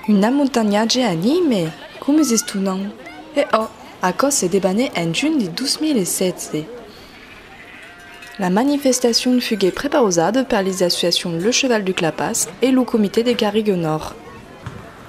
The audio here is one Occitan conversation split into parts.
Un amontanhatge anime! Comes estonant! E òc, aquò se debanè en junh de 2016. La manifestacion fuguè prepausada per les associacions Le Cheval du Clapas e lo Comité de Garrigues Nòrd.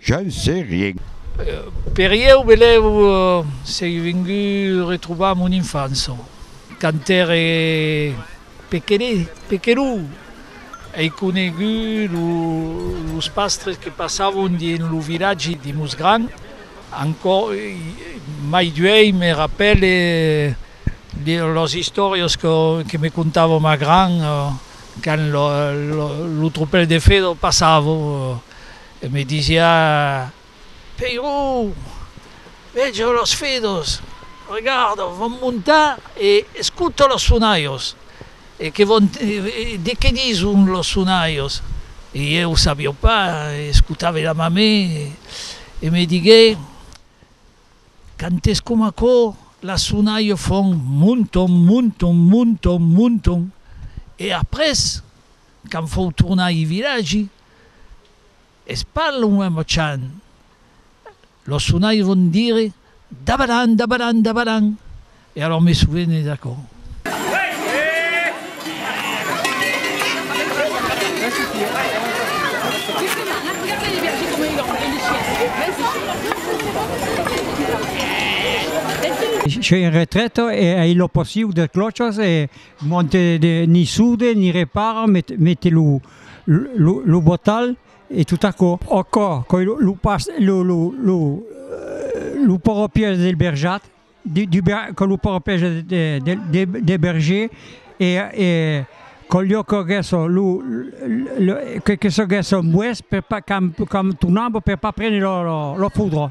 Je ne sais rien. Per ieu belèu sei vengut retrobar mon infança, quand t'ère pequenet-pequenou, ei conegut los pastres que passavon dins lo vilatge de Mosgran, ancò mai d'uèi me rapèle las istòrias que me contava ma gran quand lo tropèl de Fedor passava. E me disiá, Peiró, vejo los fidos, regardo, vòm montar e escuto los sonaios, e que vòm de que dison los sonaios. E ieu sabió pas, escutave la mamé e me digué, Cantes coma aquò, las sonaio fon monton, monton, monton, monton. E après, quand fou tornar ai vilagi, Es pas luènh mochan. Lo sonairon dire dabaran, dabaran, dabaran, e alòr me sovene d'aquò. Soi en retrèta e ai lo passiu de clochas e monte ni soude ni repara, mete lo. Lo botal e tot aquò. Aquò qu'ei lo pas, lo poropièr del berjat, que lo poropièr del berger e qu'au lieu qu'aguèsse lo, que se gèsse un boès per pas, qu'un tonambo per pas prene lo fudro.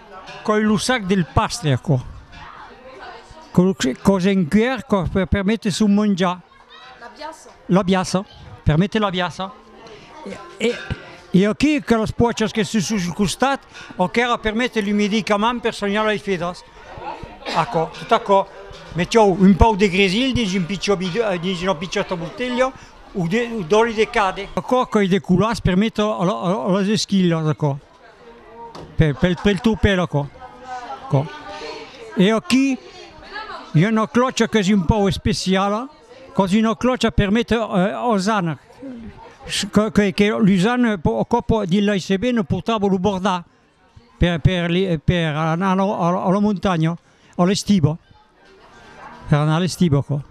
Coi lo sac del pastre, aquò. Cos en cuèr cò per permetre son monjar. L'abiassa. L'abiassa, per mete l'abiassa. E e aqui que las poachas que son sus costat, o qu'èra per mete lo medicament per sonhar lei fedas. Aquò, tot aquò. Metiou un pauc de gresil dins un pichò bidon, dins una pichòta botelha, o de d'òli de cade. Aquò coi de colas per mete a las esquilhas, aquò. per, pel, pel topèr aquò. Aquò. E aquí i a una clòcha qu'es un pòu especiala, cos una clòcha per méter os anc, que que que los an po o còp dins l'ASBN portava lo bordar per per li per anar a la montanha a l'estiva Per anar a l'estiboco.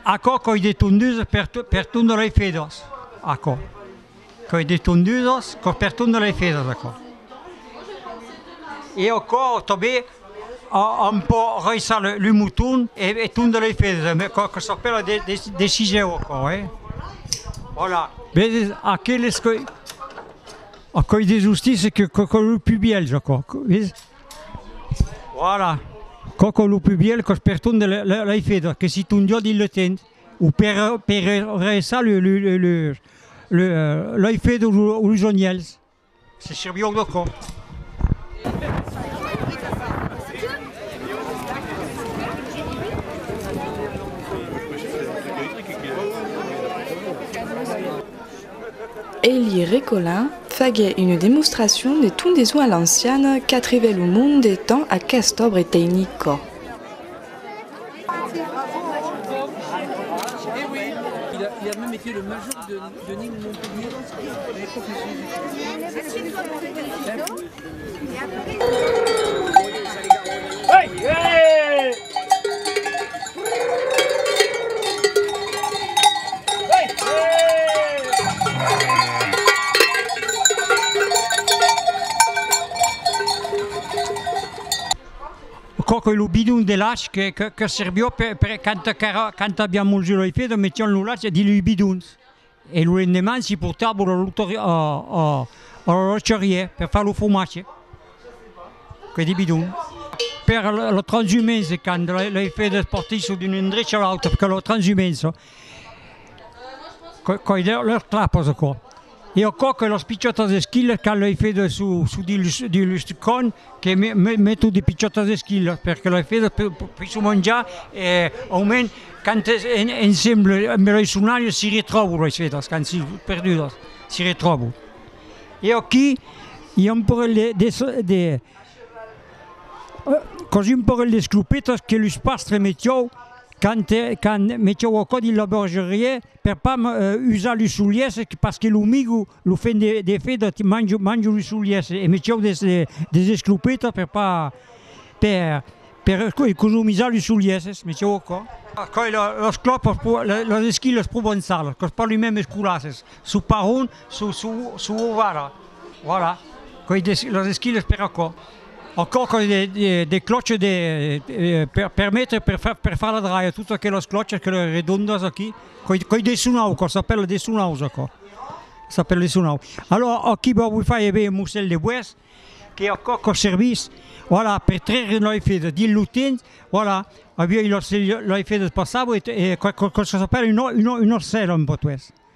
Aquò coi de tondusas per tondre lei fedas aquò coi de tondusas per tondre lei fedas aquò e aquò tanben òm pò raissar lo moton e tondre lei fedas e quò que s'apèla de sisèu aquò e vòla vedetz aqueles coi coi de justissas que coi lo pubièlh aquò vedetz. Voilà, coco lo plus biel cos per ton de l'ai fait, que si ton jòc il le tens, o per ressar le l'ai fait o los onièls, se sirvió de cò. Elie Recolin faguèt una demostracion de tondeson a l'anciana qu'atrevèt lo monde dens aqueste obre tecnico. Coco e lo bidon de lach que que que servió per per canta qu'èra canta aviá molhut lo ifedo metión lo lach dins lei bidons E lo lendeman s'i portava lo loctor a l'orolocherier per far lo fromatge, que de bidon. Per lo transhumence, quand lei fedas partisson d'un endrech a l'autre, perque lo transhumence, coi lors clapas aquò, e aquò que las pichotas esquilas quand lei fedas sud dins lo stucon, que meto de pichotas esquilas per que las fedas poisson manjar e au mens quand es ensemble amb lei sonalhas si retròbo lei fedas quand si perdudas si retròbo e aquí i a un parelh de de de cosí un parelh d'esclopetas que los pastres metió quand quand metió au cò dins la bergeriá Per pas me usar lu solies pas que lo migu lo fen de de feda ti mangio mangio lu solies e me ceu des des esclopetas per pas per per economizar lu solies me ceu aquò. Coi la las clòpas pro las esquilas provençalas qu'os parli mèm es colasses su parron su su su ovara voilà coi des las esquilas per aquò. Au còc de clòches de per permetre per far per far la draia tot aquelas clòches que le redondas aquí coi coi de sonau quò s'apèla de sonaus aquò s'apèla de sonau alò aquí vò vos fai aver un mossèl de bois que au còc au service voilà per traire lei fèdas dins lo temps voilà aviá lei fèdas passava e quò quò quò çò s'apèla un ò un ò un òrcèl en portués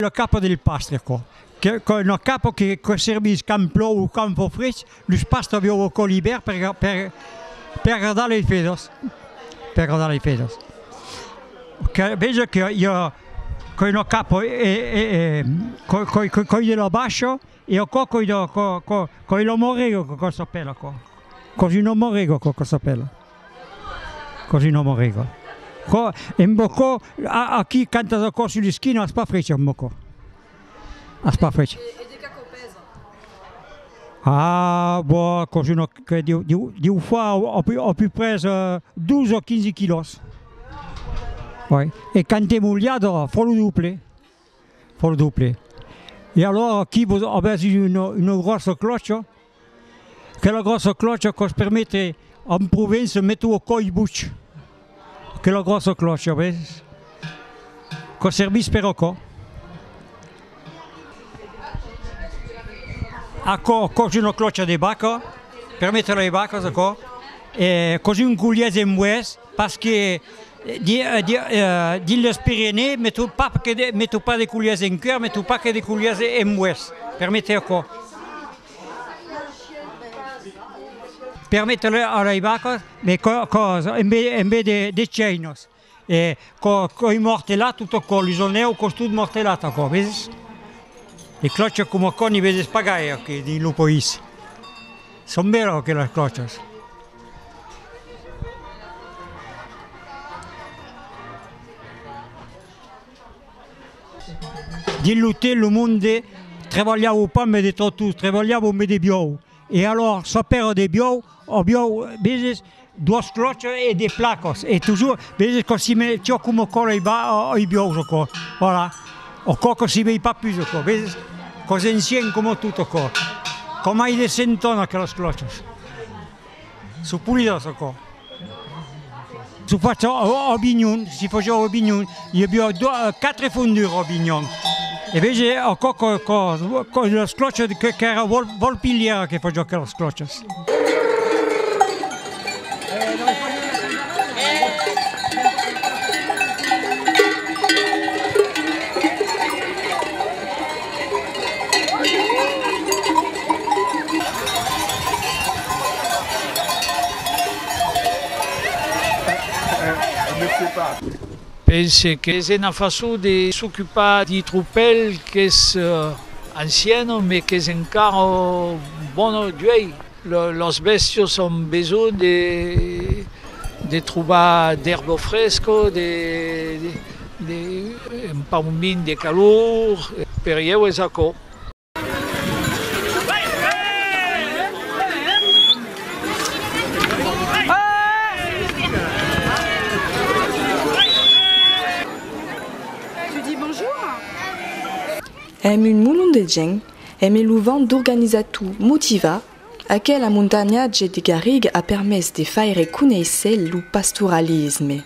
Lo capo del pasteco, qu'es lo capo que servís quand plòu o quand fa freg. Los paste avió o còl ibèrt per per agradar lei fèdas per agradar lei fèdas que veja que i a coi no capo e e coi coi coi coi de la bascio e o cò coi de co co coi lo morrego co co s'apèla co così no morrego co co s'apèla così no morrego co e mbo co a a chi canta da cò sul ischino a spa freccia mbo co. As pas fech. E de qu'a quò pèsa? Ah, bo, aquò jo no cre, deu, deu, deu far au, au pi, au pi pres, 12 o 15 quilòs. Oi. E quand èm olhada, fò lo doble. Fò lo doble. E alora, qui vos, avètz una, una gròssa clòcha, Quela gròssa clòcha quò's permete en Provença mete ua còi buch. Quela gròssa clòcha, ves? Quò servís per aquò. Aquò quò's una clòcha de vaca, permete a lei vacas aquò. E quò's un golièz en boès. Pas que dins los Pirenèi me tròb pas que de me topar de culhas en cua, me tròb pas que de culhas en boès. Per méter aquò. Per méter a lei vacas de cosa en be en be de de cheinos e co coi mortelat tot aquò, los onèus cos tot mortelat aquò, veses? De clòcha coma aquò n'i veses pas gaire aquí dins lo país. Son bèlas aquelas còchas! Dins l'otèl lo monde trabalhavo pas mai de tròttols, trabalhavo mai de biòu e alòra sa pèra de biòu, ò biòu, Duos cloches e de placos e toujours veges que si me tio com o còl ei ba ei biòus o cò voilà o cò que si vei pas pus o cò veses cò s'encien com tot o cò com ai de senton aqueles cloches so pulidas o cò. Su facho o o binhun si fojau o binhun. I a biò quatre fons de Robinhon. E vege aquò que que las clòchas que qu'èra Volpilièra que faciá aquelas clòchas. Pense qu'es ena façon de s'ocupar d'i tropèl qu'es anciana me qu'es encara bona d'uei. Las bèstias an besonh de trobar d'èrba fresca, un paument de calor, per ieu es aquò. Èm un molon de gent, e me lo van d'organizar tu, motivar, aquela montanhatge de garriga a permés de faire conéisser lo pastoralisme.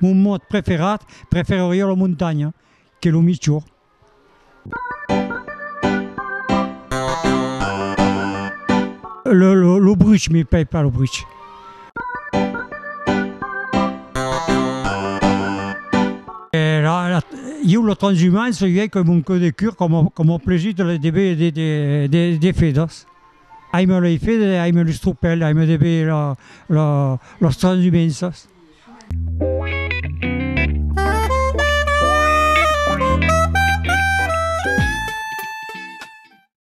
Mon mot preferat, prefereria la montanha, qu'es lo michor. Lo bruch, me plai pas lo bruch. Ieu lo transhumance i ei com un còu de cur com com au plesir de les debeir de de de de feders. Aime lei feder e aime los tropèls, aime debeir lo lo los transhumenses.